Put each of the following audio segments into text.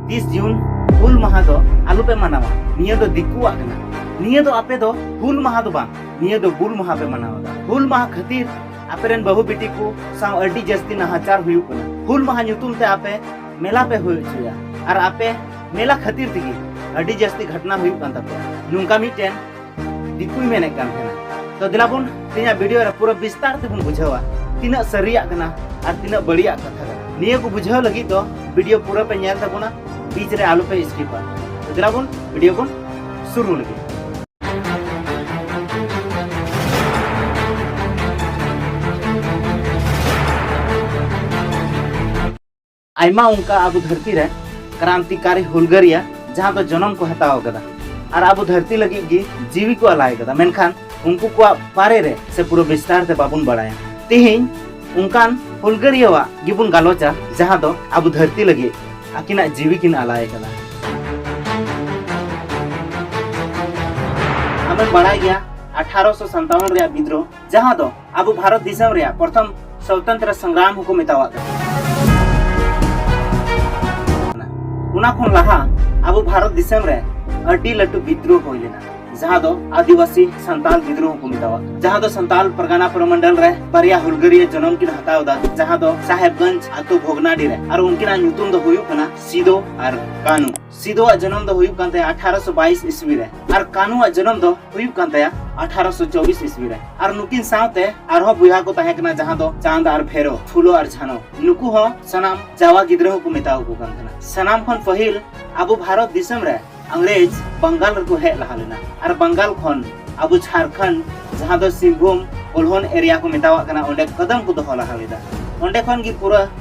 ᱛᱤᱥ ᱡᱩᱱ ᱦᱩᱞ ᱢᱟᱦᱟ ᱫᱚ ᱟᱞᱚ ᱯᱮ ᱢᱟᱱᱟᱣᱟ ᱱᱤᱭᱟᱹ ᱫᱚ ᱫᱤᱠᱩᱣᱟᱜ ᱠᱟᱱᱟ ᱱᱤᱭᱟᱹ ᱫᱚ ᱟᱯᱮ ᱫᱚ ᱦᱩᱞ ᱢᱟᱦᱟ ᱫᱚ ᱵᱟᱝ ᱱᱤᱭᱟᱹ ᱫᱚ ᱜᱩᱞ ᱢᱟᱦᱟ ᱯᱮ ᱢᱟᱱᱟᱣ ᱮᱫᱟ ᱦᱩᱞ ᱢᱟᱦᱟ ᱠᱷᱟᱹᱛᱤᱨ ᱟᱯᱮ ᱨᱮᱱ ᱵᱟᱹᱦᱩ ᱵᱤᱴᱤ ᱠᱚ ᱥᱟᱶ ᱟᱹᱰᱤ ᱡᱟᱹᱥᱛᱤ ᱱᱟᱦᱟᱪᱟᱨ ᱦᱩᱭᱩᱜ ᱠᱟᱱᱟ ᱦᱩᱞ ᱢᱟᱦᱟ ᱧᱩᱛᱩᱢ ᱛᱮ ᱟᱯᱮ ᱢᱮᱞᱟ ᱯᱮ ᱦᱩᱭ ᱦᱚᱪᱚᱭᱟ ᱟᱨ ᱟᱯᱮ ᱢᱮᱞᱟ ᱠᱷᱟᱹᱛᱤᱨ ᱛᱮᱜᱮ ᱟᱹᱰᱤ ᱡᱟᱹᱥᱛᱤ ᱜᱷᱚᱴᱱᱟ ᱦᱩᱭᱩᱜ ᱠᱟᱱ ᱛᱟᱯᱮᱭᱟ ᱱᱚᱝᱠᱟ ᱢᱤᱫᱴᱮᱱ ᱫᱤᱠᱩᱭ ᱢᱮᱱᱮᱫ ᱠᱟᱱ ᱛᱟᱦᱮᱱᱟ ᱛᱚ ᱫᱮᱞᱟ ᱵᱚᱱ ᱛᱮᱦᱮᱧᱟᱜ ᱵᱷᱤᱰᱤᱭᱳ ᱨᱮ ᱯᱩᱨᱟᱹ ᱵᱤᱥᱛᱟᱨ ᱛᱮᱵᱚᱱ ᱵᱩᱡᱷᱟᱹᱣᱟ ᱛᱤᱱᱟᱹᱜ ᱥᱟᱹᱨᱤᱭᱟᱜ ᱠᱟᱱᱟ ᱟᱨ ᱛᱤᱱᱟᱹᱜ ᱵᱟᱹᱲᱤᱡᱟᱜ ᱠᱟᱛᱷᱟ ᱠᱟᱱᱟ ᱱᱤᱭᱟᱹ ᱠᱚ ᱵᱩᱡᱷᱟᱹᱣ ᱞᱟᱹᱜᱤᱫ ᱫᱚ ᱵᱷᱤᱰᱤᱭᱳ ᱯᱩᱨᱟᱹ ᱯᱮ ᱧᱮᱞ ᱛᱟᱵᱚᱱᱟ ᱵᱤᱪ ᱨᱮ ᱟᱞᱚ ᱯᱮ ᱥᱠᱤᱯᱟ ᱛᱚ ᱫᱮᱞᱟ ᱵᱚᱱ ᱵᱷᱤᱰᱤᱭᱳ ᱵᱚᱱ ᱥᱩᱨᱩ ᱞᱟᱹᱜᱤᱫ ᱟᱭᱢᱟ ᱚᱱᱠᱟ ᱟᱵᱚ ᱫᱷᱟᱹᱨᱛᱤ ᱨᱮ ᱠᱨᱟᱱᱛᱤᱠᱟᱨᱤ ᱦᱩᱞᱜᱟᱹᱨᱤᱭᱟ ᱡᱟᱦᱟᱸ ᱫᱚ ᱡᱚᱱᱚᱢ ᱠᱚ ᱦᱟᱛᱟᱣ ᱟᱠᱟᱫᱟ ᱟᱨ ᱟᱵᱚ ᱫᱷᱟᱹᱨᱛᱤ ᱞᱟᱹᱜᱤᱫ ᱜᱮ ᱡᱤᱣᱤ ᱠᱚ ᱟᱞᱟᱭ ᱟᱠᱟᱫᱟ ᱢᱮᱱᱠᱷᱟᱱ ᱩᱱᱠᱩ ᱠᱚᱣᱟᱜ ᱵᱟᱨᱮ ᱨᱮ ᱥᱮ ᱯᱩᱨᱟᱹ ᱵᱤᱥᱛᱟᱨ ᱛᱮ ᱵᱟᱵᱚᱱ ᱵᱟᱲᱟᱭᱟ ᱛᱮᱦᱮᱧ ᱚᱱᱠᱟᱱ ᱦᱩᱞᱜᱟᱹᱨᱤᱭᱟᱣᱟᱜ ᱜᱮᱵᱚᱱ ᱜᱟᱞᱚᱪᱟ ᱡᱟᱦᱟᱸ ᱫᱚ ᱟᱵᱚ ᱫᱷᱟᱹᱨᱛᱤ ᱞᱟᱹᱜᱤᱫ ᱟᱹᱠᱤᱱᱟᱜ ᱡᱤᱣᱤ ᱠᱤᱱ ᱟᱞᱟᱭ ᱟᱠᱟᱫᱟ ᱟᱢᱮᱢ ᱵᱟᱲᱟᱭ ᱜᱮᱭᱟ ᱟᱴᱷᱟᱨᱚᱥᱚ ᱥᱟᱱᱛᱟᱣᱚᱱ ᱨᱮᱭᱟᱜ ᱵᱤᱫᱽᱨᱳᱦ ᱡᱟᱦᱟᱸ ᱫᱚ ᱟᱵᱚ ᱵᱷᱟᱨᱚᱛ ᱫᱤᱥᱚᱢ ᱨᱮᱭᱟᱜ ᱯᱨᱚᱛᱷᱚᱢ ᱥᱚᱛᱚᱱᱛᱨᱚ ᱥᱚᱝᱜᱨᱟᱢ ᱦᱚᱸᱠᱚ ᱢᱮᱛᱟᱣᱟᱜ ᱠᱟᱱᱟ ᱚᱱᱟ ᱠᱷᱚᱱ ᱞᱟᱦᱟ ᱟᱵᱚ ᱵᱷᱟᱨᱚᱛ ᱫᱤᱥᱚᱢ ᱨᱮ ᱟᱹᱰᱤ ᱞᱟᱹᱴᱩ ᱵᱤᱫᱽᱨᱳᱦ ᱦᱩᱭ ᱞᱮᱱᱟ ᱡᱟᱦᱟᱸ ᱫᱚ ᱟᱹᱫᱤᱵᱟᱹᱥᱤ ᱥᱟᱱᱛᱟᱞ ᱵᱤᱫᱽᱨᱳᱦ ᱠᱚ ᱢᱮᱛᱟᱣᱟᱜ ᱠᱟᱱᱟ ᱡᱟᱦᱟᱸ ᱫᱚ ᱥᱟᱱᱛᱟᱞ ᱯᱨᱚᱜᱟᱱᱟ ᱯᱨᱚᱢᱚᱱᱰᱚᱞ ᱨᱮ ᱵᱟᱨᱭᱟ ᱦᱩᱞᱜᱟᱹᱨᱤᱭᱟᱹ ᱡᱚᱱᱚᱢ ᱠᱤᱱ ᱦᱟᱛᱟᱣ ᱮᱫᱟ ᱡᱟᱦᱟᱸ ᱫᱚ ᱥᱟᱦᱮᱵᱽᱜᱚᱸᱡᱽ ᱟᱛᱳ ᱵᱷᱚᱜᱽᱱᱟᱰᱤ ᱨᱮ ᱟᱨ ᱩᱱᱠᱤᱱᱟᱜ ᱧᱩᱛᱩᱢ ᱫᱚ ᱦᱩᱭᱩᱜ ᱠᱟᱱᱟ ᱥᱤᱫᱳ ᱟᱨ ᱠᱟᱹᱱᱩ ᱥᱤᱫᱚ ᱟᱜ ᱡᱚᱱᱚᱢ ᱫᱚ ᱦᱩᱭᱩᱜ ᱠᱟᱱ ᱛᱟᱭᱟ ᱟᱴᱷᱟᱨᱚᱥᱚ ᱵᱟᱭᱤᱥ ᱤᱥᱣᱤ ᱨᱮ ᱟᱨ ᱠᱟᱱᱩ ᱟᱜ ᱡᱚᱱᱚᱢ ᱫᱚ ᱦᱩᱭᱩᱜ ᱠᱟᱱ ᱛᱟᱭᱟ ᱟᱴᱷᱟᱨᱚᱥᱚ ᱪᱚᱵᱤᱥ ᱤᱥᱣᱤ ᱨᱮ ᱟᱨ ᱱᱩᱠᱤᱱ ᱥᱟᱶᱛᱮ ᱟᱨᱦᱚᱸ ᱵᱚᱭᱦᱟ ᱠᱚ ᱛᱟᱦᱮᱸ ᱠᱟᱱᱟ ᱡᱟᱦᱟᱸ ᱫᱚ ᱪᱟᱸᱫ ᱟᱨ ᱵᱷᱮᱨᱚ ᱯᱷᱩᱞᱚ ᱟᱨ ᱡᱷᱟᱱᱚ ᱱᱩᱠᱩ ᱦᱚᱸ ᱥᱟᱱᱟᱢ ᱡᱟᱣᱟ ᱜᱤᱫᱽᱨᱟᱹ ᱦᱚᱸᱠᱚ ᱢᱮᱛᱟᱣ ᱠᱚ ᱠᱟᱱ ᱛᱟᱦᱮᱱᱟ ᱥᱟᱱᱟᱢ ᱠᱷᱚᱱ ᱯᱟᱹᱦᱤᱞ ᱟᱵᱚ ᱵᱷᱟᱨᱚᱛ ᱫᱤᱥᱚᱢ ᱨᱮ अंग्रेज बंगाल ᱨᱮᱠᱚ ᱦᱮᱡ ᱞᱟᱦᱟ ᱞᱮᱱᱟ ᱟᱨ ᱵᱟᱝᱜᱟᱞ ᱠᱷᱚᱱ ᱟᱵᱚ ᱡᱷᱟᱨᱠᱷᱚᱸᱰ ᱡᱟᱦᱟᱸ ᱫᱚ ᱥᱤᱝᱵᱷᱩᱢ ᱚᱞᱦᱚᱱ ᱮᱨᱤᱭᱟ ᱠᱚ ᱢᱮᱛᱟᱣᱟᱜ ᱠᱟᱱᱟ ᱚᱸᱰᱮ ᱠᱚᱫᱚᱢ ᱠᱚ ᱫᱚᱦᱚ ᱞᱟᱦᱟ ᱞᱮᱫᱟ ᱚᱸᱰᱮ ᱠᱷᱚᱱ ᱜᱮ ᱯᱩᱨᱟᱹ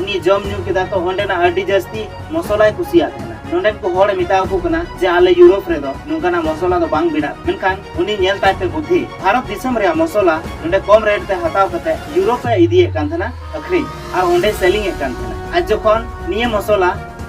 ᱩᱱᱤ ᱡᱚᱢ ᱧᱩ ᱠᱮᱫᱟ ᱛᱚ ᱚᱸᱰᱮᱱᱟᱜ ᱟᱹᱰᱤ ᱡᱟᱹᱥᱛᱤ ᱢᱚᱥᱚᱞᱟᱭ ᱠᱩᱥᱤᱭᱟᱜ ᱛᱟᱦᱮᱱᱟ ᱱᱚᱸᱰᱮᱱ ᱠᱚ ᱦᱚᱲ ᱢᱮᱛᱟ ᱟᱠᱚ ᱠᱟᱱᱟ ᱡᱮ ᱟᱞᱮ ᱭᱩᱨᱳᱯ ᱨᱮᱫᱚ ᱱᱚᱝᱠᱟᱱᱟᱜ ᱢᱚᱥᱚᱞᱟ ᱫᱚ ᱵᱟᱝ ᱵᱮᱱᱟᱜ ᱢᱮᱱᱠᱷᱟᱱ ᱩᱱᱤ ᱧᱮᱞ ᱛᱟᱭ ᱛᱮ ᱵᱩᱫᱷᱤ ᱵᱷᱟᱨᱚᱛ ᱫᱤᱥᱚᱢ ᱨᱮᱭᱟᱜ ᱢᱚᱥᱚᱞᱟ ᱱᱚᱸᱰᱮ ᱠᱚᱢ ᱨᱮᱴ ᱛᱮ ᱦᱟᱛᱟᱣ ᱠᱟᱛᱮ ᱭᱩᱨᱳᱯ ᱮ ᱤᱫᱤᱭᱮᱫ ᱠᱟᱱ ᱛᱟᱦᱮᱱᱟ ᱟᱹᱠᱷᱨᱤᱧ ᱟᱨ ᱚᱸᱰᱮ ᱥᱮᱞᱤᱝ ᱮᱫ ᱠᱟᱱ ᱛᱟᱦᱮᱱᱟ ᱟᱨ ᱡᱚᱠᱷᱚᱱ ᱱᱤᱭᱟᱹ ᱢᱚᱥᱚᱞᱟ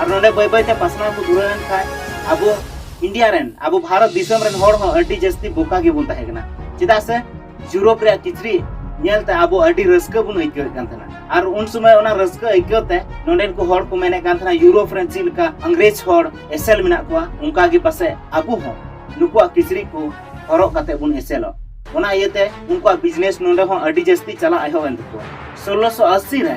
ᱟᱨ ᱱᱚᱰᱮ ᱵᱟᱹᱭ ᱵᱟᱹᱭ ᱛᱮ ᱯᱟᱥᱱᱟᱣ ᱠᱚ ᱫᱷᱩᱨᱟᱹᱣ ᱮᱱ ᱠᱷᱟᱱ ᱟᱵᱚ ᱤᱱᱰᱤᱭᱟ ᱨᱮᱱ ᱟᱵᱚ ᱵᱷᱟᱨᱚᱛ ᱫᱤᱥᱚᱢ ᱨᱮᱱ ᱦᱚᱲ ᱦᱚᱸ ᱟᱹᱰᱤ ᱡᱟᱹᱥᱛᱤ ᱵᱚᱠᱟ ᱜᱮᱵᱚᱱ ᱛᱟᱦᱮᱸ ᱠᱟᱱᱟ ᱪᱮᱫᱟᱜ ᱥᱮ ᱤᱭᱩᱨᱳᱯ ᱨᱮᱭᱟᱜ ᱠᱤᱪᱨᱤᱡ ᱧᱮᱞᱛᱮ ᱟᱵᱚ ᱟᱹᱰᱤ ᱨᱟᱹᱥᱠᱟᱹ ᱵᱚᱱ ᱟᱹᱭᱠᱟᱹᱣᱮᱫ ᱠᱟᱱ ᱛᱟᱦᱮᱱᱟ ᱟᱨ ᱩᱱ ᱥᱚᱢᱚᱭ ᱚᱱᱟ ᱨᱟᱹᱥᱠᱟᱹ ᱟᱹᱭᱠᱟᱹᱣ ᱛᱮ ᱱᱚᱰᱮᱱ ᱠᱚ ᱦᱚᱲ ᱠᱚ ᱢᱮᱱᱮᱫ ᱠᱟᱱ ᱛᱟᱦᱮᱱᱟ ᱤᱭᱩᱨᱳᱯ ᱨᱮᱱ ᱪᱮᱫ ᱞᱮᱠᱟ ᱤᱝᱨᱮᱡᱽ ᱦᱚᱲ ᱮᱥᱮᱞ ᱢᱮᱱᱟᱜ ᱠᱚᱣᱟ ᱚᱱᱠᱟ ᱜᱮ ᱯᱟᱥᱮ ᱟᱵᱚ ᱦᱚᱸ ᱱᱩᱠᱩᱣᱟᱜ ᱠᱤᱪᱨᱤᱡ ᱠᱚ ᱦᱚᱨᱚᱜ ᱠᱟᱛᱮ ᱵᱚᱱ ᱮᱥᱮᱞᱚᱜ ᱚᱱᱟ ᱤᱭᱟᱹᱛᱮ ᱩᱱᱠᱩᱣᱟᱜ ᱵᱤᱡᱽᱱᱮᱥ ᱱᱚᱰᱮ ᱦᱚᱸ ᱟᱹᱰᱤ ᱡᱟᱹᱥᱛᱤ ᱪᱟᱞᱟᱜ ᱮᱦᱚᱵ ᱮᱱ ᱛᱟᱠᱚᱣᱟ ᱥᱳᱞᱞᱳᱥᱚ ᱟᱥᱤ ᱨᱮ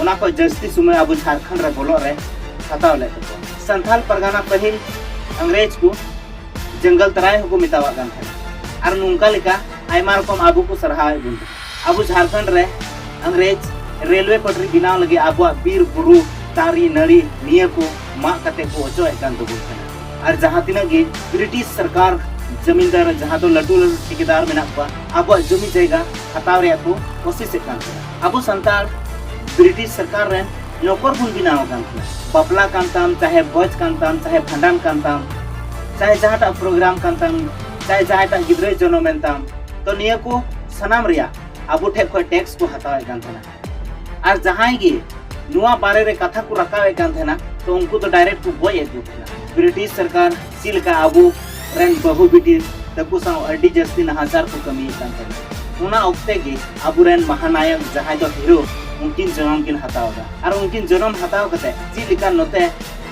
ᱚᱱᱟ ᱠᱷᱚᱱ ᱡᱟᱹᱥᱛᱤ ᱥᱚᱢᱚᱭ ᱟᱵᱚ ᱡᱷᱟᱲᱠᱷᱚᱸᱰ ᱨᱮ ᱵᱚᱞᱚᱜ ᱨᱮ ᱦᱟᱛᱟᱣ ᱞᱮᱫ ᱛᱟᱠᱚᱣᱟ ᱥᱟᱱᱛᱟᱞ ᱯᱟᱨᱜᱟᱱᱟ ᱯᱟᱹᱦᱤᱞ ᱤᱝᱨᱮᱡᱽ ᱠᱚ ᱡᱚᱝᱜᱚᱞ ᱛᱟᱨᱟᱭ ᱦᱚᱸᱠᱚ ᱢᱮᱛᱟᱣᱟᱜ ᱠᱟᱱ ᱛᱟᱦᱮᱸᱫ ᱟᱨ ᱱᱚᱝᱠᱟ ᱞᱮᱠᱟ ᱟᱭᱢᱟ ᱨᱚᱠᱚᱢ ᱟᱵᱚ ᱠᱚ ᱥᱟᱨᱦᱟᱣᱮᱫ ᱵᱚᱱ ᱟᱵᱚ ᱡᱷᱟᱲᱠᱷᱚᱸᱰ ᱨᱮ ᱤᱝᱨᱮᱡᱽ ᱨᱮᱞᱣᱮ ᱯᱟᱴᱨᱤ ᱵᱮᱱᱟᱣ ᱞᱟᱹᱜᱤᱫ ᱟᱵᱚᱣᱟᱜ ᱵᱤᱨ ᱵᱩᱨᱩ ᱫᱟᱨᱮ ᱱᱟᱹᱲᱤ ᱱᱤᱭᱟᱹ ᱠᱚ ᱢᱟᱜ ᱠᱟᱛᱮ ᱠᱚ ᱚᱪᱚᱭᱮᱫ ᱠᱟᱱ ᱛᱟᱵᱚᱱ ᱠᱟᱱᱟ ᱟᱨ ᱡᱟᱦᱟᱸ ᱛᱤᱱᱟᱹᱜ ᱜᱮ ᱵᱨᱤᱴᱤᱥ ᱥᱚᱨᱠᱟᱨ ᱡᱚᱢᱤᱱᱫᱟᱨ ᱡᱟᱦᱟᱸ ᱫᱚ ᱞᱟᱹᱴᱩ ᱞᱟᱹᱴᱩ ᱴᱷᱤᱠᱮᱫᱟᱨ ᱢᱮᱱᱟᱜ ᱠᱚᱣᱟ ᱟᱵᱚᱣᱟᱜ ᱡᱚᱢᱤ ᱡᱟᱭᱜᱟ ᱦᱟᱛᱟᱣ ᱨᱮᱭᱟᱜ ᱠᱚ ᱠᱚᱥᱤᱥᱮᱫ ᱠᱟᱱ ᱛᱟᱦᱮᱸᱱᱟ ᱟᱵᱚ ᱥᱟᱱᱛᱟᱲ ᱵᱨᱤᱴᱤᱥ ᱥᱚᱨᱠᱟᱨ ᱨᱮᱱ ᱱᱚᱠᱚᱨ ᱵᱚᱱ ᱵᱮᱱᱟᱣ ᱟᱠᱟᱱ ᱛᱟᱦᱮᱸ ᱵᱟᱯᱞᱟ ᱠᱟᱱ ᱛᱟᱢ ᱪᱟᱦᱮ ᱵᱷᱚᱡᱽ ᱠᱟᱱ ᱛᱟᱢ ᱪᱟᱦᱮ ᱵᱷᱟᱸᱰᱟᱱ ᱠᱟᱱ ᱛᱟᱢ ᱪᱟᱦᱮ ᱡᱟᱦᱟᱸᱴᱟᱜ ᱯᱨᱳᱜᱨᱟᱢ ᱠᱟᱱ ᱛᱟᱢ ᱪᱟᱦᱮ ᱡᱟᱦᱟᱸᱴᱟᱜ ᱜᱤᱫᱽᱨᱟᱹᱭ ᱡᱚᱱᱚᱢᱮᱱ ᱛᱟᱢ ᱛᱚ ᱱᱤᱭᱟᱹ ᱠᱚ ᱥᱟᱱᱟᱢ ᱨᱮᱭᱟᱜ ᱟᱵᱚ ᱴᱷᱮᱱ ᱠᱷᱚᱱ ᱴᱮᱠᱥ ᱠᱚ ᱦᱟᱛᱟᱣᱮᱫ ᱠᱟᱱ ᱛᱟᱦᱮᱱᱟ ᱟᱨ ᱡᱟᱦᱟᱸᱭ ᱜᱮ ᱱᱚᱣᱟ ᱵᱟᱨᱮ ᱨᱮ ᱠᱟᱛᱷᱟ ᱠᱚ ᱨᱟᱠᱟᱵᱮᱫ ᱠᱟᱱ ᱛᱟᱦᱮᱱᱟ ᱛᱚ ᱩᱱᱠᱩ ᱫᱚ ᱰᱟᱭᱨᱮᱠᱴ ᱠᱚ ᱜᱚᱡ ᱮᱫ ᱠᱚ ᱛᱟᱦᱮᱱᱟ ᱵᱨᱤᱴᱤᱥ ᱥᱚᱨᱠᱟᱨ ᱪᱮᱫ ᱞᱮᱠᱟ ᱟᱵᱚ ᱨᱮᱱ ᱵᱟᱹᱦᱩ ᱵᱤᱴᱤ ᱛᱟᱠᱚ ᱥᱟᱶ ᱟᱹᱰᱤ ᱡᱟᱹᱥᱛᱤ ᱱᱟᱦᱟᱪᱟᱨ ᱠᱚ ᱠᱟᱹᱢᱤᱭᱮᱫ ᱠᱟᱱ ᱛᱟᱦᱮᱱᱟ ᱚᱱᱟ ᱚᱠᱛᱮ ᱜᱮ ᱟᱵᱚ ᱨᱮᱱ ᱢᱟᱦᱟᱱᱟᱭᱚᱠ ᱡᱟᱦᱟᱸᱭ ᱫᱚ ᱦᱤᱨᱳ ᱩᱱᱠᱤᱱ ᱡᱚᱱᱚᱢ ᱠᱤᱱ ᱦᱟᱛᱟᱣ ᱮᱫᱟ ᱟᱨ ᱩᱱᱠᱤᱱ ᱡᱚᱱᱚᱢ ᱦᱟᱛᱟᱣ ᱠᱟᱛᱮ ᱪᱮᱫ ᱞᱮᱠᱟ ᱱᱚᱛᱮ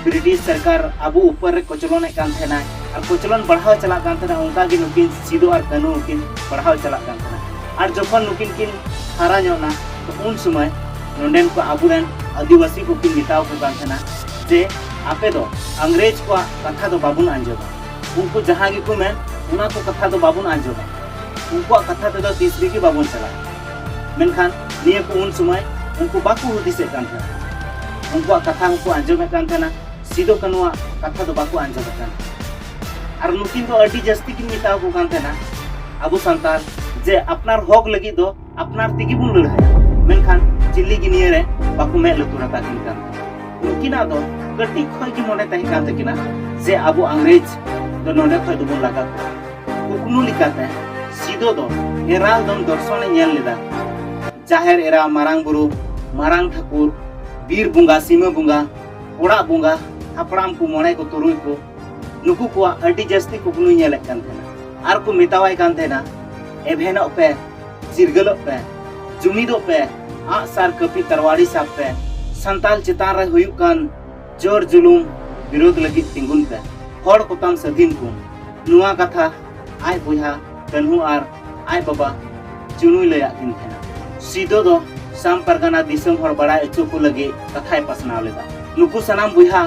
ᱵᱨᱤᱴᱤᱥ ᱥᱚᱨᱠᱟᱨ ᱟᱵᱚ ᱩᱯᱚᱨ ᱨᱮ ᱠᱚᱪᱞᱚᱱᱮᱫ ᱠᱟᱱ ᱛᱟᱦᱮᱱᱟ ᱟᱨ ᱠᱚᱪᱞᱚᱱ ᱵᱟᱲᱦᱟᱣ ᱪᱟᱞᱟᱜ ᱠᱟᱱ ᱛᱟᱦᱮᱱᱟ ᱚᱱᱠᱟ ᱜᱮ ᱱᱩᱠᱤᱱ ᱥᱤᱫᱚ ᱟᱨ ᱠᱟᱹᱱᱩ ᱠᱤᱱ ᱵᱟᱲᱦᱟᱣ ᱪᱟᱞᱟᱜ ᱠᱟᱱ ᱛᱟᱦᱮᱱᱟ ᱟᱨ ᱡᱚᱠᱷᱚᱱ ᱱᱩᱠᱤᱱ ᱠᱤᱱ ᱦᱟᱨᱟ ᱧᱚᱜ ᱱᱟ ᱛᱚ ᱩᱱ ᱥᱚᱢᱚᱭ ᱱᱚᱰᱮᱱ ᱠᱚ ᱟᱵᱚ ᱨᱮᱱ ᱟᱹᱫᱤᱵᱟᱹᱥᱤ ᱠᱚᱠᱤᱱ ᱢᱮᱛᱟᱣ ᱠᱚ ᱠᱟᱱ ᱛᱟᱦᱮᱱᱟ ᱡᱮ ᱟᱯᱮ ᱫᱚ ᱟᱝᱜᱽᱨᱮᱡᱽ ᱠᱚᱣᱟᱜ ᱠᱟᱛᱷᱟ ᱫᱚ ᱵᱟᱵᱚᱱ ᱟᱸᱡᱚᱢᱟ ᱩᱱᱠᱩ ᱡᱟᱦᱟᱸ ᱜᱮᱠᱚ ᱢᱮᱱ ᱚᱱᱟ ᱠᱚ ᱠᱟᱛᱷᱟ ᱫᱚ ᱵᱟᱵᱚᱱ ᱟᱸᱡᱚᱢᱟ ᱩᱱᱠᱩᱣᱟᱜ ᱠᱟᱛᱷᱟ ᱛᱮᱫᱚ ᱛᱤᱥ ᱨᱮᱜᱮ ᱵᱟᱵᱚᱱ ᱪᱟᱞᱟᱜᱼᱟ ᱢᱮᱱᱠᱷᱟᱱ ᱱᱤᱭᱟᱹ ᱠᱚ ᱩᱱ ᱥᱚᱢᱚᱭ ᱩᱱᱠᱩ ᱵᱟᱠᱚ ᱦᱩᱫᱤᱥᱮᱫ ᱠᱟᱱ ᱛᱟᱦᱮᱱᱟ ᱩᱱᱠᱩᱣᱟᱜ ᱠᱟᱛᱷᱟ ᱦᱚᱸᱠᱚ ᱟᱸᱡᱚᱢᱮᱫ ᱠᱟᱱ ᱛᱟᱦᱮᱱᱟ ᱥᱤᱫᱚ ᱠᱟᱹᱱᱩᱣᱟᱜ ᱠᱟᱛᱷᱟ ᱫᱚ ᱵᱟᱠᱚ ᱟᱸᱡᱚᱢᱮᱫ ᱠᱟᱱ ᱟᱨ ᱱᱩᱠᱤᱱ ᱫᱚ ᱟᱹᱰᱤ ᱡᱟᱹᱥᱛᱤ ᱠᱤᱱ ᱢᱮᱛᱟᱣ ᱠᱚ ᱠᱟᱱ ᱛᱟᱦᱮᱱᱟ ᱟᱵᱚ ᱥᱟᱱᱛᱟᱲ ᱡᱮ ᱟᱯᱱᱟᱨ ᱦᱚᱠ ᱞᱟᱹᱜᱤᱫ ᱫᱚ ᱟᱯᱱᱟᱨ ᱛᱮᱜᱮ ᱵᱚᱱ ᱞᱟᱹᱲᱦᱟᱹᱭᱟ ᱢᱮᱱᱠᱷᱟᱱ ᱪᱤᱞᱤ ᱜᱮ ᱱᱤᱭᱟᱹ ᱨᱮ ᱵᱟᱠᱚ ᱢᱮᱫ ᱞᱩᱛᱩᱨ ᱟᱠᱟᱫ ᱠᱤᱱ ᱠᱟᱱ ᱩᱱᱠᱤᱱᱟᱜ ᱫᱚ ᱠᱟᱹᱴᱤᱡ ᱠᱷᱚᱱ ᱜᱮ ᱢᱚᱱᱮ ᱛᱟᱦᱮᱸ ᱠᱟᱱ ᱛᱟᱹᱠᱤᱱᱟ ᱡᱮ ᱟᱵᱚ ᱤᱝᱨᱮᱡᱽ ᱫᱚ ᱱᱚᱰᱮ ᱠᱷᱚᱱ ᱫᱚᱵᱚᱱ ᱞᱟᱜᱟ ᱠᱚᱣᱟ ᱠᱩᱠᱢᱩ ᱞᱮᱠᱟᱛᱮ ᱥᱤᱫᱚ ᱫᱚ ᱮᱨᱟᱞ ᱫᱚᱢ ᱫᱚᱨᱥᱚᱱᱮ ᱧᱮᱞ ᱞᱮᱫᱟ ᱡᱟᱦᱮᱨ ᱮᱨᱟ ᱢᱟᱨᱟᱝ ᱵᱩᱨᱩ ᱢᱟᱨᱟᱝ ᱴᱷᱟᱹᱠᱩᱨ ᱵᱤᱨ ᱵᱚᱸᱜᱟ ᱥᱤᱢᱟᱹ ᱵᱚᱸᱜᱟ ᱚᱲᱟᱜ ᱵᱚᱸᱜᱟ ᱦᱟᱯᱲᱟᱢ ᱠᱚ ᱢᱚᱬᱮ ᱠᱚ ᱛᱩᱨᱩᱭ ᱠᱚ ᱱᱩᱠᱩ ᱠᱚᱣᱟᱜ ᱟᱹᱰᱤ ᱡᱟᱹᱥᱛᱤ ᱠᱩᱠᱢᱩᱭ ᱧᱮᱞᱮᱫ ᱠᱟᱱ ᱛᱟᱦᱮᱱᱟ ᱟᱨ ᱠᱚ ᱢᱮᱛᱟᱣᱟᱭ ᱠᱟᱱ ᱛᱟᱦᱮᱱᱟ ᱮᱵᱷᱮᱱᱚᱜ ᱯᱮ ᱪᱤᱨᱜᱟᱹᱞᱚᱜ ᱯᱮ ᱡᱩᱢᱤᱫᱚᱜ ᱯᱮ ᱟᱜ ᱥᱟᱨ ᱠᱟᱹᱯᱤ ᱛᱟᱨᱣᱟᱲᱤ ᱥᱟᱵ ᱯᱮ ᱥᱟᱱᱛᱟᱞ ᱪᱮᱛᱟᱱ ᱨᱮ ᱦᱩᱭᱩᱜ ᱠᱟᱱ ᱡᱳᱨ ᱡᱩᱞᱩᱢ ᱵᱤᱨᱳᱫ ᱞᱟᱹᱜᱤᱫ ᱛᱤᱸᱜᱩᱱ ᱯᱮ ᱦᱚᱲ ᱠᱚᱛᱟᱢ ᱥᱟᱹᱫᱷᱤᱱ ᱠᱚ ᱱᱚᱣᱟ ᱠᱟᱛᱷᱟ ᱟᱡ ᱵᱚᱭᱦᱟ ᱠᱟᱹᱱᱦᱩ ᱟᱨ ᱟᱡ ᱵᱟᱵᱟ ᱪᱩᱱᱩᱭ ᱞᱟᱹᱭᱟᱫ ᱠᱤᱱ ᱛᱟᱦᱮᱱᱟ ᱥᱤᱫᱚ ᱫᱚ ᱥᱟᱢ ᱯᱟᱨᱜᱟᱱᱟ ᱫᱤᱥᱚᱢ ᱦᱚᱲ ᱵᱟᱲᱟᱭ ᱦᱚᱪᱚ ᱠᱚ ᱞᱟᱹᱜᱤᱫ ᱠᱟᱛᱷᱟᱭ ᱯᱟᱥᱱᱟᱣ ᱞᱮᱫᱟ ᱱᱩᱠᱩ ᱥᱟᱱᱟᱢ ᱵᱚᱭᱦᱟ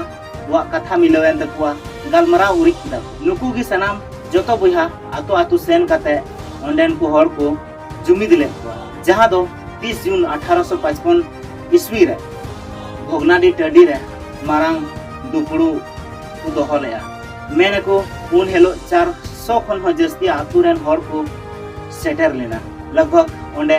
ᱠᱚᱣᱟᱜ ᱠᱟᱛᱷᱟ ᱢᱤᱞᱟᱹᱣ ᱮᱱ ᱛᱟᱠᱚᱣᱟ ᱜᱟᱞᱢᱟᱨᱟᱣ ᱩᱨᱤᱡ ᱠᱮᱫᱟ ᱠᱚ ᱱᱩᱠᱩ ᱜᱮ ᱥᱟᱱᱟᱢ ᱡᱚᱛᱚ ᱵᱚᱭᱦᱟ ᱟᱛᱳ ᱟᱛᱳ ᱥᱮᱱ ᱠᱟᱛᱮ ᱚᱸᱰᱮᱱ ᱠᱚ ᱦᱚᱲ ᱠᱚ ᱡᱩᱢᱤᱫ ᱞᱮᱫ ᱠᱚᱣᱟ ᱡᱟᱦᱟᱸ ᱫᱚ 30 ᱡᱩᱱ 1855 ᱤᱥᱣᱤ ᱨᱮ ᱵᱷᱚᱜᱽᱱᱟᱰᱤ ᱴᱟᱺᱰᱤ ᱨᱮ ᱢᱟᱨᱟᱝ ᱫᱩᱯᱲᱩ ᱠᱚ ᱫᱚᱦᱚ ᱞᱮᱫᱼᱟ ᱢᱮᱱ ᱟᱠᱚ ᱩᱱ ᱦᱤᱞᱳᱜ 400 ᱠᱷᱚᱱ ᱦᱚᱸ ᱡᱟᱹᱥᱛᱤ ᱟᱛᱳ ᱨᱮᱱ ᱦᱚᱲ ᱠᱚ ᱥᱮᱴᱮᱨ ᱞᱮᱱᱟ ᱞᱟᱜᱽᱵᱷᱟᱜᱽ ᱚᱸᱰᱮ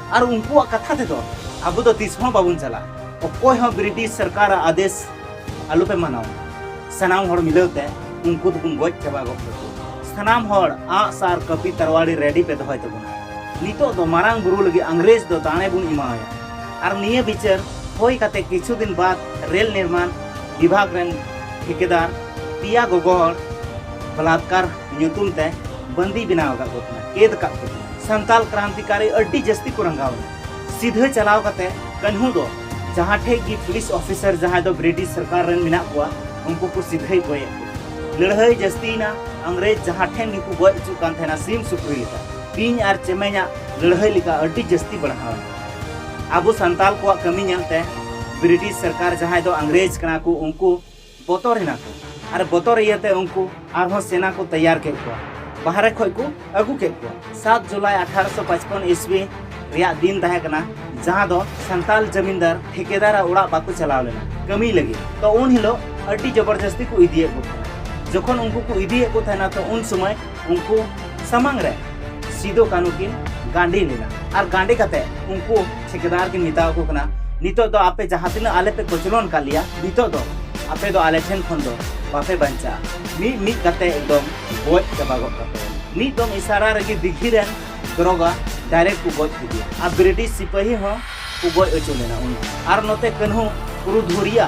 ᱟᱨ ᱩᱱᱠᱩᱣᱟᱜ ᱠᱟᱛᱷᱟ ᱛᱮᱫᱚ ᱟᱵᱚ ᱫᱚ ᱛᱤᱥ ᱦᱚᱸ ᱵᱟᱵᱚᱱ ᱪᱟᱞᱟᱜ ᱚᱠᱚᱭ ᱦᱚᱸ ᱵᱨᱤᱴᱤᱥ ᱥᱚᱨᱠᱟᱨ ᱟᱫᱮᱥ ᱟᱞᱚ ᱯᱮ ᱢᱟᱱᱟᱣ ᱥᱟᱱᱟᱢ ᱦᱚᱲ ᱢᱤᱞᱟᱹᱣ ᱛᱮ ᱩᱱᱠᱩ ᱫᱚᱵᱚᱱ ᱜᱚᱡ ᱪᱟᱵᱟ ᱜᱚᱫ ᱠᱟᱠᱚ ᱥᱟᱱᱟᱢ ᱦᱚᱲ ᱟᱸᱜ ᱥᱟᱨ ᱠᱟᱹᱯᱤ ᱛᱟᱨᱣᱟᱲᱤ ᱨᱮᱰᱤ ᱯᱮ ᱫᱚᱦᱚᱭ ᱛᱟᱵᱚᱱᱟ ᱱᱤᱛᱚᱜ ᱫᱚ ᱢᱟᱨᱟᱝ ᱵᱩᱨᱩ ᱞᱟᱹᱜᱤᱫ ᱤᱝᱨᱮᱡᱽ ᱫᱚ ᱫᱟᱲᱮ ᱵᱚᱱ ᱮᱢᱟᱣᱟᱭᱟ ᱟᱨ ᱱᱤᱭᱟᱹ ᱵᱤᱪᱟᱹᱨ ᱦᱩᱭ ᱠᱟᱛᱮ ᱠᱤᱪᱷᱩ ᱫᱤᱱ ᱵᱟᱫ ᱨᱮᱞ ᱱᱤᱨᱢᱟᱱ ᱵᱤᱵᱷᱟᱜᱽ ᱨᱮᱱ ᱴᱷᱤᱠᱟᱹᱫᱟᱨ ᱯᱮᱭᱟ ᱜᱚᱜᱚ ᱦᱚᱲ ᱵᱚᱞᱟᱛᱠᱟᱨ ᱧᱩᱛᱩᱢ ᱛᱮ ᱵᱟᱹᱱᱫᱤ ᱵᱮᱱᱟᱣ ᱟᱠᱟᱫ ᱠᱚ ᱛᱟᱦᱮᱱᱟ ᱠᱮᱫ ᱟᱠᱟᱫ ᱠᱚ ᱛᱟᱦᱮᱱᱟ ᱥᱟᱱᱛᱟᱞ ᱠᱨᱟᱱᱛᱤᱠᱟᱨᱤ ᱟᱹᱰᱤ ᱡᱟᱹᱥᱛᱤ ᱠᱚ ᱨᱟᱸᱜᱟᱣᱮᱱᱟ ᱥᱤᱫᱷᱟᱹ ᱪᱟᱞᱟᱣ ᱠᱟᱛᱮ ᱠᱟᱹᱱᱦᱩ ᱫᱚ ᱡᱟᱦᱟᱸ ᱴᱷᱮᱡ ᱜᱮ ᱯᱩᱞᱤᱥ ᱚᱯᱷᱤᱥᱟᱨ ᱡᱟᱦᱟᱸᱭ ᱫᱚ ᱵᱨᱤᱴᱤᱥ ᱥᱚᱨᱠᱟᱨ ᱨᱮᱱ ᱢᱮᱱᱟᱜ ᱠᱚᱣᱟ ᱩᱱᱠᱩ ᱠᱚ ᱥᱤᱫᱷᱟᱹᱭ ᱜᱚᱡᱮᱫ ᱠᱚ ᱞᱟᱹᱲᱦᱟᱹᱭ ᱡᱟᱹᱥᱛᱤᱭᱮᱱᱟ ᱟᱝᱨᱮᱡᱽ ᱡᱟᱦᱟᱸ ᱴᱷᱮᱱ ᱜᱮᱠᱚ ᱜᱚᱡ ᱦᱚᱪᱚᱜ ᱠᱟᱱ ᱛᱟᱦᱮᱱᱟ ᱥᱤᱢ ᱥᱩᱠᱨᱤ ᱞᱮᱠᱟ ᱵᱤᱧ ᱟᱨ ᱪᱮᱢᱮᱧᱟᱜ ᱞᱟᱹᱲᱦᱟᱹᱭ ᱞᱮᱠᱟ ᱟᱹᱰᱤ ᱡᱟᱹᱥᱛᱤ ᱵᱟᱲᱦᱟᱣᱮᱱᱟ ᱟᱵᱚ ᱥᱟᱱᱛᱟᱞ ᱠᱚᱣᱟᱜ ᱠᱟᱹᱢᱤ ᱧᱮᱞᱛᱮ ᱵᱨᱤᱴᱤᱥ ᱥᱚᱨᱠᱟᱨ ᱡᱟᱦᱟᱸᱭ ᱫᱚ ᱟᱝᱨᱮᱡᱽ ᱠᱟᱱᱟ ᱠᱚ ᱩᱱᱠᱩ ᱵᱚᱛᱚᱨ ᱮᱱᱟ ᱠᱚ ᱟᱨ ᱵᱚᱛᱚᱨ ᱤᱭᱟᱹ ᱛᱮ ᱩᱱᱠᱩ ᱟᱨᱦᱚᱸ ᱥᱮᱱᱟ ᱠᱚ ᱛᱮᱭᱟᱨ ᱠᱮᱫ ᱠᱚᱣᱟ ᱵᱟᱦᱨᱮ ᱠᱷᱚᱱ ᱠᱚ ᱟᱹᱜᱩ ᱠᱮᱫ ᱠᱚᱣᱟ᱾ ᱥᱟᱛ ᱡᱩᱞᱟᱭ ᱟᱴᱷᱟᱨᱚ ᱥᱚ ᱯᱟᱪᱯᱚᱱ ᱤᱥᱣᱤ ᱨᱮᱭᱟᱜ ᱫᱤᱱ ᱛᱟᱦᱮᱸ ᱠᱟᱱᱟ ᱡᱟᱦᱟᱸ ᱫᱚ ᱥᱟᱱᱛᱟᱞ ᱡᱟᱢᱤᱱᱫᱟᱨ ᱴᱷᱤᱠᱮᱫᱟᱨ ᱟᱜ ᱚᱲᱟᱜ ᱵᱟᱠᱚ ᱪᱟᱞᱟᱣ ᱞᱮᱱᱟ ᱠᱟᱹᱢᱤ ᱞᱟᱹᱜᱤᱫ ᱛᱚ ᱩᱱ ᱦᱤᱞᱚᱜ ᱟᱹᱰᱤ ᱡᱚᱵᱚᱨᱡᱚᱥᱛᱤ ᱠᱚ ᱤᱫᱤᱭᱮᱫ ᱠᱚ ᱛᱟᱦᱮᱱᱟ ᱡᱚᱠᱷᱚᱱ ᱩᱱᱠᱩ ᱠᱚ ᱤᱫᱤᱭᱮᱫ ᱠᱚ ᱛᱟᱦᱮᱱᱟ ᱛᱚ ᱩᱱ ᱥᱚᱢᱚᱭ ᱩᱱᱠᱩ ᱥᱟᱢᱟᱝ ᱨᱮ ᱥᱤᱫᱚ ᱠᱟᱹᱱᱦᱩ ᱠᱤᱱ ᱜᱟᱸᱰᱮ ᱞᱮᱱᱟ ᱟᱨ ᱜᱟᱸᱰᱮ ᱠᱟᱛᱮ ᱩᱱᱠᱩ ᱴᱷᱤᱠᱟᱹᱫᱟᱨ ᱠᱤᱱ ᱢᱮᱛᱟᱣ ᱠᱚ ᱠᱟᱱᱟ ᱱᱤᱛᱚᱜ ᱫᱚ ᱟᱯᱮ ᱡᱟᱦᱟᱸ ᱛᱤᱱᱟᱹᱜ ᱟᱞᱮ ᱯᱮ ᱠᱚᱪᱞᱚᱱ ᱠᱟᱜ ᱞᱮᱭᱟ ᱱᱤᱛᱚᱜ ᱫᱚ ᱟᱯᱮ ᱫᱚ ᱟᱞᱮ ᱴᱷᱮᱱ ᱠᱷᱚᱱ ᱫᱚ ᱵᱟᱯᱮ ᱵᱟᱧᱪᱟᱜᱼᱟ ᱢᱤᱫ ᱢᱤᱫ ᱠᱟᱛᱮ ᱮᱠᱫᱚᱢ ᱜᱚᱡ ᱪᱟᱵᱟ ᱜᱚᱫ ᱠᱟᱯᱮ ᱢᱤᱫ ᱫᱚᱢ ᱤᱥᱟᱨᱟ ᱨᱮᱜᱮ ᱫᱤᱜᱷᱤ ᱨᱮᱱ ᱫᱨᱚᱜᱟ ᱰᱟᱭᱨᱮᱠᱴ ᱠᱚ ᱜᱚᱡ ᱠᱮᱫᱮᱭᱟ ᱟᱨ ᱵᱨᱤᱴᱤᱥ ᱥᱤᱯᱟᱹᱦᱤ ᱦᱚᱸ ᱠᱚ ᱜᱚᱡ ᱦᱚᱪᱚ ᱞᱮᱱᱟ ᱩᱱᱤ ᱟᱨ ᱱᱚᱛᱮ ᱠᱟᱹᱱᱦᱩ ᱯᱩᱨᱩᱫᱷᱩᱲᱤᱭᱟ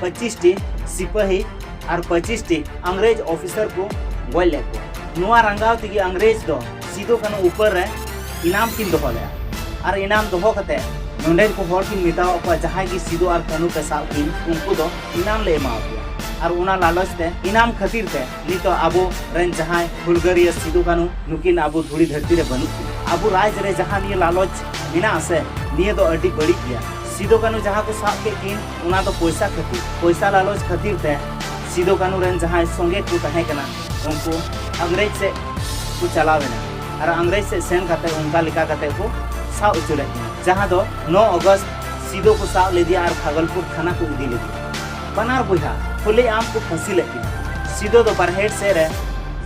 ᱯᱚᱸᱪᱤᱥ ᱴᱤ ᱥᱤᱯᱟᱹᱦᱤ ᱟᱨ ᱯᱚᱸᱪᱤᱥ ᱴᱤ ᱟᱝᱜᱽᱨᱮᱡᱽ ᱚᱯᱷᱤᱥᱟᱨ ᱠᱚ ᱜᱚᱡ ᱞᱮᱫ ᱠᱚᱣᱟ ᱱᱚᱣᱟ ᱨᱟᱸᱜᱟᱣ ᱛᱮᱜᱮ ᱟᱝᱜᱽᱨᱮᱡᱽ ᱫᱚ ᱥᱤᱫᱩ ᱠᱟᱹᱱᱩ ᱩᱯᱟᱹᱨ ᱨᱮ ᱤᱱᱟᱢ ᱠᱤᱱ ᱫᱚᱦᱚ ᱞᱮᱫᱼᱟ ᱟᱨ ᱤᱱᱟᱢ ᱫᱚᱦᱚ ᱠᱟᱛᱮ ᱱᱚᱰᱮ ᱠᱚ ᱦᱚᱲ ᱠᱤᱱ ᱢᱮᱛᱟᱣᱟᱫ ᱠᱚᱣᱟ ᱡᱟᱦᱟᱸᱭ ᱜᱮ ᱥᱤᱫᱩ ᱟᱨ ᱠᱟᱹᱱᱩ ᱯᱮ ᱥᱟᱵ ᱠᱤᱱ ᱩᱱᱠᱩ ᱫᱚ ᱤᱱᱟᱢ ᱞᱮ ᱮᱢᱟᱣ ᱯᱮᱭᱟ ᱟᱨ ᱚᱱᱟ ᱞᱟᱞᱚᱪ ᱛᱮ ᱤᱱᱟᱢ ᱠᱷᱟᱹᱛᱤᱨ ᱛᱮ ᱱᱤᱛᱚᱜ ᱟᱵᱚ ᱨᱮᱱ ᱡᱟᱦᱟᱸᱭ ᱦᱩᱞᱜᱟᱹᱨᱤᱭᱟᱹ ᱥᱤᱫᱩ ᱠᱟᱹᱱᱩ ᱱᱩᱠᱤᱱ ᱟᱵᱚ ᱫᱷᱩᱲᱤ ᱫᱷᱟᱹᱨᱛᱤ ᱨᱮ ᱵᱟᱹᱱᱩᱜ ᱠᱤᱱᱟ ᱟᱵᱚ ᱨᱟᱡᱽ ᱨᱮ ᱡᱟᱦᱟᱸ ᱱᱤᱭᱟᱹ ᱞᱟᱞᱚᱪ ᱢᱮᱱᱟᱜ ᱟᱥᱮ ᱱᱤᱭᱟᱹ ᱫᱚ ᱟᱹᱰᱤ ᱵᱟᱹᱲᱤᱡ ᱜᱮᱭᱟ ᱥᱤᱫᱩ ᱠᱟᱹᱱᱩ ᱡᱟᱦᱟᱸ ᱠᱚ ᱥᱟᱵ ᱠᱮᱫ ᱠᱤᱱ ᱚᱱᱟ ᱫᱚ ᱯᱚᱭᱥᱟ ᱠᱷᱟᱹᱛᱤᱨ ᱯᱚᱭᱥᱟ ᱞᱟᱞᱚᱪ ᱠᱷᱟᱹᱛᱤᱨ ᱛᱮ ᱥᱤᱫᱩ ᱠᱟᱹᱱᱩ ᱨᱮᱱ ᱡᱟᱦᱟᱸᱭ ᱥᱚᱸᱜᱮ ᱠᱚ ᱛᱟᱦᱮᱸ ᱠᱟᱱᱟ ᱩᱱᱠᱩ ᱤᱝᱨᱮᱡᱽ ᱥᱮᱫ ᱠᱚ ᱪᱟᱞᱟᱣ ᱮᱱᱟ ᱟᱨ ᱤᱝᱨᱮᱡᱽ ᱥᱮᱫ ᱥᱮᱱ ᱠᱟᱛᱮ ᱚᱱᱠᱟ ᱞᱮᱠᱟ ᱠᱟᱛᱮ ᱠᱚ ᱥᱟᱵ ᱦᱚᱪᱚ ᱞᱮᱫ ᱠᱤᱱᱟ ᱡᱟᱦᱟᱸ ᱫᱚ 9 ᱚᱜᱚᱥᱴ ᱥᱤᱫᱩ ᱠᱚ ᱥᱟᱵ ᱞᱮᱫᱮᱭᱟ ᱟᱨ ᱵᱷᱟᱜᱚᱞᱯᱩᱨ ᱛᱷᱟᱱᱟ ᱠᱚ ᱤᱫᱤ ᱞᱮᱫᱮᱭᱟ ᱵᱟᱱᱟᱨ ᱵᱚᱭᱦᱟ ᱠᱷᱩᱞᱮ ᱟᱢ ᱠᱚ ᱯᱷᱟᱹᱥᱤ ᱞᱮᱫ ᱠᱤᱱᱟ ᱥᱤᱫᱩ ᱫᱚ ᱵᱟᱨᱦᱮᱰ ᱥᱮᱫ ᱨᱮ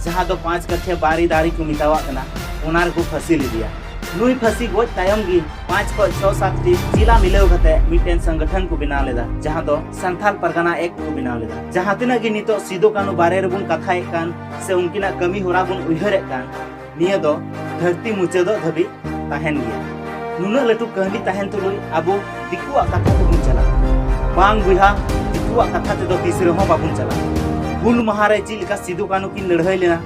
ᱡᱟᱦᱟᱸ ᱫᱚ ᱯᱟᱸᱪ ᱠᱟᱴᱷᱤᱭᱟ ᱵᱟᱨᱤ ᱫᱟᱨᱮ ᱠᱚ ᱢᱮᱛᱟᱣᱟᱜ ᱠᱟᱱᱟ ᱚᱱᱟ ᱨᱮᱠᱚ ᱯᱷᱟᱹᱥᱤ ᱞᱮᱫᱮᱭᱟ ᱱᱩᱭ ᱯᱷᱟᱹᱥᱤ ᱜᱚᱡ ᱛᱟᱭᱚᱢ ᱜᱮ ᱯᱟᱸᱪ ᱠᱷᱚᱱ ᱪᱷᱚ ᱥᱟᱛ ᱴᱤ ᱡᱤᱞᱟ ᱢᱤᱞᱟᱹᱣ ᱠᱟᱛᱮ ᱢᱤᱫᱴᱮᱱ ᱥᱚᱝᱜᱚᱴᱷᱚᱱ ᱠᱚ ᱵᱮᱱᱟᱣ ᱞᱮᱫᱟ ᱡᱟᱦᱟᱸ ᱫᱚ ᱥᱟᱱᱛᱷᱟᱞ ᱯᱟᱨᱜᱟᱱᱟ ᱮᱠᱴ ᱠᱚ ᱵᱮᱱᱟᱣ ᱞᱮᱫᱟ ᱡᱟᱦᱟᱸ ᱛᱤᱱᱟᱹᱜ ᱜᱮ ᱱᱤᱛᱚᱜ ᱥᱤᱫᱩ ᱠᱟᱹᱱᱩ ᱵᱟᱨᱮ ᱨᱮᱵᱚᱱ ᱠᱟᱛᱷᱟᱭᱮᱫ ᱠᱟᱱ ᱥᱮ ᱩᱱᱠᱤᱱᱟᱜ ᱠᱟᱹᱢᱤ ᱦᱚᱨᱟ ᱵᱚᱱ ᱩᱭᱦᱟᱹᱨᱮᱫ ᱠᱟᱱ ᱱᱤᱭᱟᱹ ᱫᱚ ᱫᱷᱟᱹᱨᱛᱤ ᱢᱩᱪᱟᱹᱫᱚᱜ ᱫᱷᱟᱹᱵᱤᱡ ᱛᱟᱦᱮᱱ ᱜᱮᱭᱟ ᱱᱩᱱᱟᱹᱜ ᱞᱟᱹᱴᱩ ᱠᱟᱹᱦᱱᱤ ᱛᱟᱦᱮᱱ ᱛᱩᱞᱩᱡ ᱟᱵᱚ ᱫᱤᱠᱩᱣᱟᱜ ᱠᱟᱛᱷᱟ ᱛᱮᱵᱚᱱ ᱪᱟᱞᱟᱜᱼᱟ ᱵᱟᱝ ᱵᱚᱭᱦᱟ ᱫᱤᱠᱩᱣᱟᱜ ᱠᱟᱛᱷᱟ ᱛᱮᱫᱚ ᱛᱤᱥ ᱨᱮᱦᱚᱸ ᱵᱟᱵᱚᱱ ᱪᱟᱞᱟᱜᱼᱟ ᱦᱩᱞ ᱢᱟᱦᱟ ᱨᱮ ᱪᱮᱫ ᱞᱮᱠᱟ ᱥᱤᱫᱩ ᱠᱟᱹᱱᱩ ᱠᱤᱱ ᱞᱟᱹᱲᱦᱟᱹᱭ ᱞᱮᱱᱟ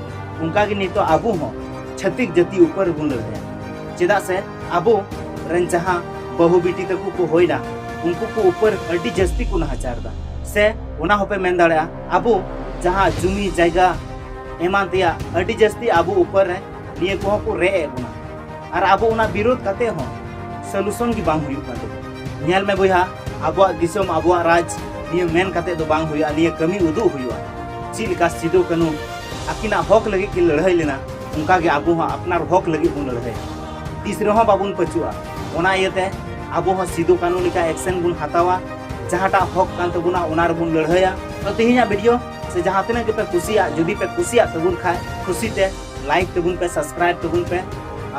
ᱚᱱᱠᱟ ᱜᱮ ᱱᱤᱛᱚᱜ ᱟᱵᱚ ᱦᱚᱸ ᱪᱷᱟᱹᱛᱤᱠ ᱡᱟᱹᱛᱤ ᱩᱯᱚᱨ ᱵᱚᱱ ᱞᱟᱹᱲᱦᱟᱹᱭᱟ ᱪᱮᱫᱟᱜ ᱥᱮ ᱟᱵᱚ ᱨᱮᱱ ᱡᱟᱦᱟᱸ ᱵᱟᱹᱦᱩ ᱵᱤᱴᱤ ᱛᱟᱠᱚ ᱠᱚ ᱦᱩᱭᱱᱟ ᱩᱱᱠᱩ ᱠᱚ ᱩᱯᱟᱹᱨ ᱟᱹᱰᱤ ᱡᱟᱹᱥᱛᱤ ᱠᱚ ᱱᱟᱦᱟᱪᱟᱨ ᱮᱫᱟ ᱥᱮ ᱚᱱᱟ ᱦᱚᱸᱯᱮ ᱢᱮᱱ ᱫᱟᱲᱮᱭᱟᱜᱼᱟ ᱟᱵᱚ ᱡᱟᱦᱟᱸ ᱡᱩᱢᱤ ᱡᱟᱭᱜᱟ ᱮᱢᱟᱱ ᱛᱮᱭᱟᱜ ᱟᱹᱰᱤ ᱡᱟᱹᱥᱛᱤ ᱟᱵᱚ ᱩᱯᱟᱹᱨ ᱨᱮ ᱱᱤᱭᱟᱹ ᱠᱚᱦᱚᱸ ᱠᱚ ᱨᱮᱡ ᱮᱫ ᱵᱚᱱᱟ ᱟᱨ ᱟᱵᱚ ᱚᱱᱟ ᱵᱤᱨᱳᱫ ᱠᱟᱛᱮ ᱦᱚᱸ ᱥᱚᱞᱩᱥᱚᱱ ᱜᱮ ᱵᱟᱝ ᱦᱩᱭᱩᱜ ᱠᱟᱱ ᱛᱟᱵᱚᱱᱟ ᱧᱮᱞ ᱢᱮ ᱵᱚᱭᱦᱟ ᱟᱵᱚᱣᱟᱜ ᱫᱤᱥᱚᱢ ᱟᱵᱚᱣᱟᱜ ᱨᱟᱡᱽ ᱱᱤᱭᱟᱹ ᱢᱮᱱ ᱠᱟᱛᱮ ᱫᱚ ᱵᱟᱝ ᱦᱩᱭᱩᱜᱼᱟ ᱱᱤᱭᱟᱹ ᱠᱟᱹᱢᱤ ᱩᱫᱩᱜ ᱦᱩᱭᱩᱜᱼᱟ ᱪᱮᱫ ᱞᱮᱠᱟ ᱥᱤᱫᱩ ᱠᱟᱹᱱᱩ ᱟᱹᱠᱤᱱᱟᱜ ᱦᱚᱠ ᱞᱟᱹᱜᱤᱫ ᱠᱤᱱ ᱞᱟᱹᱲᱦᱟᱹᱭ ᱞᱮᱱᱟ ᱚᱱᱠᱟ ᱜᱮ ᱟᱵᱚ ᱦᱚᱸ ᱟᱯᱱᱟᱨ ᱦᱚᱠ ᱞᱟᱹᱜᱤᱫ ᱵᱚᱱ ᱞᱟᱹᱲᱦᱟᱹᱭᱟ ᱛᱤᱥ ᱨᱮᱦᱚᱸ ᱵᱟᱵᱚᱱ ᱯᱟᱹᱪᱩᱜᱼᱟ ᱚᱱᱟ ᱤᱭᱟᱹᱛᱮ ᱟᱵᱚ ᱦᱚᱸ ᱥᱤᱫᱩ ᱠᱟᱹᱱᱩ ᱞᱮᱠᱟ ᱮᱠᱥᱮᱱ ᱵᱚᱱ ᱦᱟᱛᱟᱣᱟ ᱡᱟᱦᱟᱸᱴᱟᱜ ᱦᱚᱠ ᱠᱟᱱ ᱛᱟᱵᱚᱱᱟ ᱚᱱᱟ ᱨᱮᱵᱚᱱ ᱞᱟᱹᱲᱦᱟᱹᱭᱟ ᱛᱚ ᱛᱮᱦᱮᱧᱟᱜ ᱵᱷᱤᱰᱤᱭᱳ ᱥᱮ ᱡᱟᱦᱟᱸ ᱛᱤᱱᱟᱹᱜ ᱜᱮᱯᱮ ᱠᱩᱥᱤᱭᱟᱜ ᱡᱩᱫᱤ ᱯᱮ ᱠᱩᱥᱤᱭᱟᱜ ᱛᱟᱵᱚᱱ ᱠᱷᱟᱡ ᱠᱩᱥᱤ ᱛᱮ ᱞᱟᱭᱤᱠ ᱛᱟᱵᱚᱱ ᱯᱮ ᱥᱟᱵᱥᱠᱨᱟᱭᱤᱵ ᱛᱟᱵᱚᱱ ᱯᱮ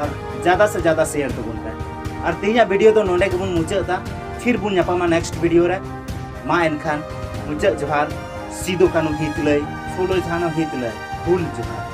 ᱟᱨ ᱡᱟᱫᱟ ᱥᱮ ᱡᱟᱫᱟ ᱥᱮᱭᱟᱨ ᱛᱟᱵᱚᱱ ᱯᱮ ᱟᱨ ᱛᱮᱦᱮᱧᱟᱜ ᱵᱷᱤᱰᱤᱭᱳ ᱫᱚ ᱱᱚᱰᱮ ᱜᱮᱵᱚᱱ ᱢᱩᱪᱟᱹᱫᱟ ᱯᱷᱤᱨ ᱵᱚᱱ ᱧᱟᱯᱟᱢᱟ ᱱᱮᱠᱥᱴ ᱵᱷᱤᱰᱤᱭᱳ ᱨᱮ ᱢᱟ ᱮᱱᱠᱷᱟᱱ ᱢᱩᱪᱟᱹᱫ ᱡᱚᱦᱟᱨ ᱥᱤᱫᱩ ᱠᱟᱹᱱᱩ ᱦᱤᱛ ᱞᱟᱹᱭ ᱯᱷᱩᱞᱳ ᱡᱷᱟᱱᱚ ᱦᱤᱛ ᱞᱟᱹᱭ ᱦᱩᱞ ᱡᱚᱦᱟᱨ